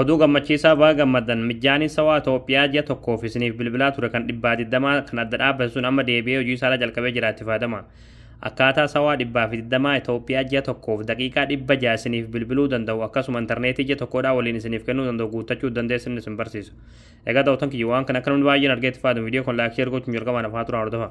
Oduu gammachiisaa baga gammaddan mijjaaniin sawaa Itoophiyaa ji'a tokkoof isiniif bilbilaa ture kan dhibbaa digdamaa kan adda dhaabbate sun amma deebi'ee hojii isaarra jalqabee jira itti fayyadama. Akkaataa sawaa dhibbaa fi digdamaa Itoophiyaa ji'a tokkoof daqiiqaa dhibba ja'a isiniif bilbiluu danda'u akkasuma intarneetii ji'a tokkoodhaa waliin isiniif kennuu danda'u guuttachuu dandeessan isin barsiisa. Egaa daawwattoon kiyya waan kana akka namni baay'een argee itti fayyadamu viidiyoo kan laayik sheer gochuun jalqabaan hafaa turaa hordofa.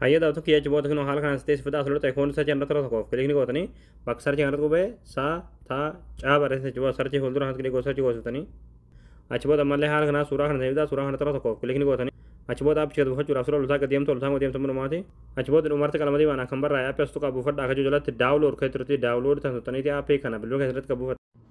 Hayyee daawwatu kiyya achi booda kinoo haala kanaan sitee sifataa asirra ta'e koon sarjii irratti tokko tokkoof kilikni gootanii bakka sarjii kanarratti qubee saa taa caa barreessan achi booda sarjii fuuldura kanatti kilikoo sarjii goosiftanii achi booda ammallee haala kanaa suuraa kana ta'eebitaa suuraa kana irratti tokkoof kilikni gootanii achi booda appi gad buufachuudhaaf sura loltaa gad deemtu loltaa gad deemtu munumaati achi booda dhumarratti qalama diimaan akkan barraa'e appi as tuqaa buufadha akka jiru jalatti daawulood kan turtii daawulood tan tuttaniiti appi kana bilbila keessatti gad buufadha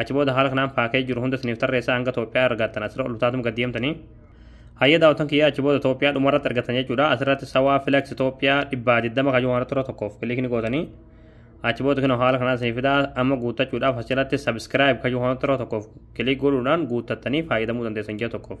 achi booda haala kanaan paakee jiru hunda isiniif tarreessaa hanga Itoophiyaa argattan asirra ol utaatum gad deemtanii hayya daawwatan kiyya achi booda Itoophiyaa dhuma irratti argattan jechuudha asirratti sawaa flex Itoophiyaa dhibbaa digdama kayyuu waan irra tokkoof kiliik ni gootanii achi booda kinoo haala kanaan isiniif fidaa amma guuttachuudhaaf asirratti subscribe kayyuu waan irra tokkoof kiliik godhuudhaan guuttattanii fayyadamuu dandeessan ji'a tokkoof.